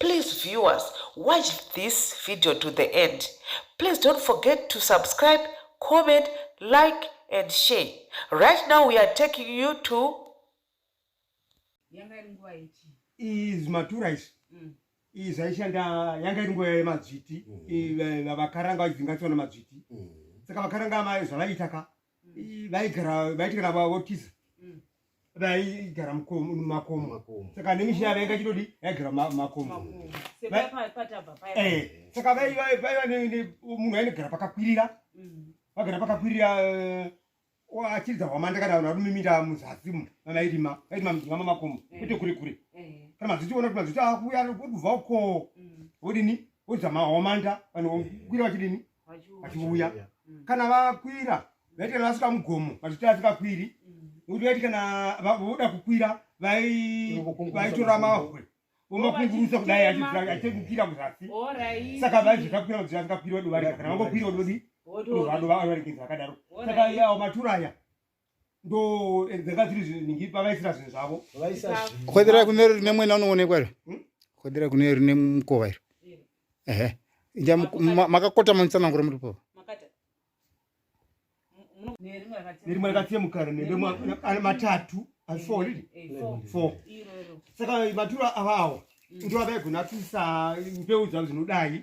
Please viewers, watch this video to the end. Please don't forget to subscribe, comment, like and share. Right now we are taking you to iyi zvimatura izvi mm. iyi zvaishanda yanga iri nguva yemadzviti mm. vakaranga vachidzinga tsona madzviti mm. saka vakaranga mai zvavaiita ka vaigara vaiti kana votiza vaigara mumakomo saka nemisha yavo yanga chitodi yaigara mumakomo eh, saka vaiva munhu ainogara pakakwirira mm. vagara pakakwirira eh, achiridza hwamanda kana vanhu varumimira muzasi mu vanairima vairima mujinga mamakomo eh. kwete kure kure kana mazuti ona kuti mazuti akuuya odubva uko mm. odini odzama hwamanda vanhu kwira vachidini vachiuya mm. kana vakwira vaitira vasvika mugomo vachiti vasikakwiri nokuti vaiti kana voda kukwira vaitora mahwe vomakungurusa kudai achikukwira kuzasi saka vaizvo zvakwira kuti vasikakwiri vadovarika kana vangokwira vododi vadovaregedza vakadaro saka awo matura aya ndo dzanga dziri zvinhu ningi pavaisira zvinhu zvavo khodhera kune rine mwena unoonekwa iro hmm? khodhera kune rine mukova iro ehe ja makakota manitsanangura muri pava nerimwe rakatsemukana nende matatu asi four riri eh, eh, four saka maturo avawo hmm. ndo avaigona kuisa mbeu dzavo dzinodai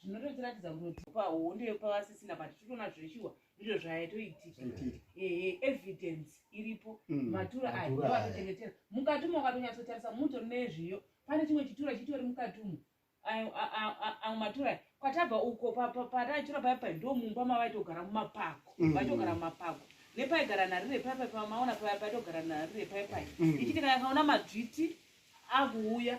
zvinototiratidza kuti pahondo yepavasisina but titoona zveshuwa ndizvo zvaitoitika ehe evidence iripo mm, matura aya ndoatochengetera mukati umo wakatonyatsotarisa muto nezviyo pane chimwe chitura chitori mukati umo amwe matura aya kwatabva uko pataichura paya pai ndo mumba mavaitogara mumapako mm. vaitogara mumapako nepaigara narire paya pai pamaona paya paitogara narire paya pai mm. ichitika yakaona madzviti akuuya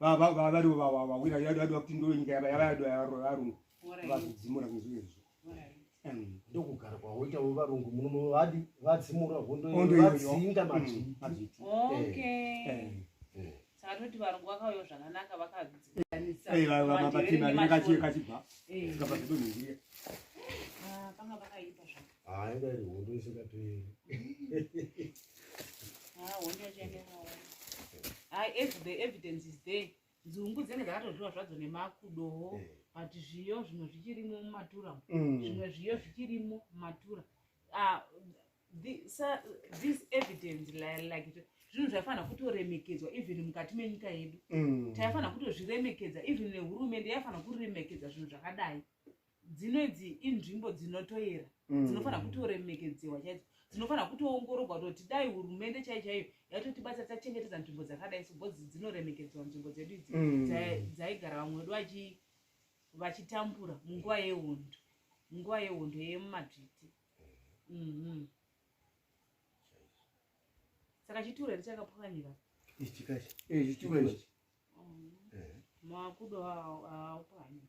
varivo vawira yadwa kuti ndo nyika yavayadwa yavarungu vakudzimura kuzvezvo ndokugara kwaoita varungu muno vadi vadzimura hondovadzinga mazviti satoti varungu vakauya zvakanaka vakadzianisaaakachibva kapa zvedonhezia panga pakaipa zvaka haa inga iri hondo isingaperi haa hondo yachainge hawa haa as the evidence is there nzungu dzinenge dzakatodyiwa zvadzo nemakudowo eh. but zviyo zvimwe zvichirimo mumatura mm. zvimwe zviyo zvichirimo mumatura ah, this evidence like zvinhu zvaifanira kutoremekedzwa even mukati menyika yedu mm. taifanira kutozviremekedza even nehurumende yaifanira kuriremekedza zvinhu zvakadai dzino idzi inzvimbo dzinotoera mm. dzinofanira kutoremekedzehwa chaidzo dzinofanira kutoongorogwa toti dai hurumende chai chaiyo yaitotibatsira tachengetedza nzvimbo dzakadai so bcoz dzinoremekedzwa nzvimbo dzedu idzi mm. dzaigara vamwe vedu vachitambura munguva yehondo munguva yehondo yemumadzviti mm-hmm. saka chituro here chakapwanyira ichikachi ichikachi makudo aupwanyira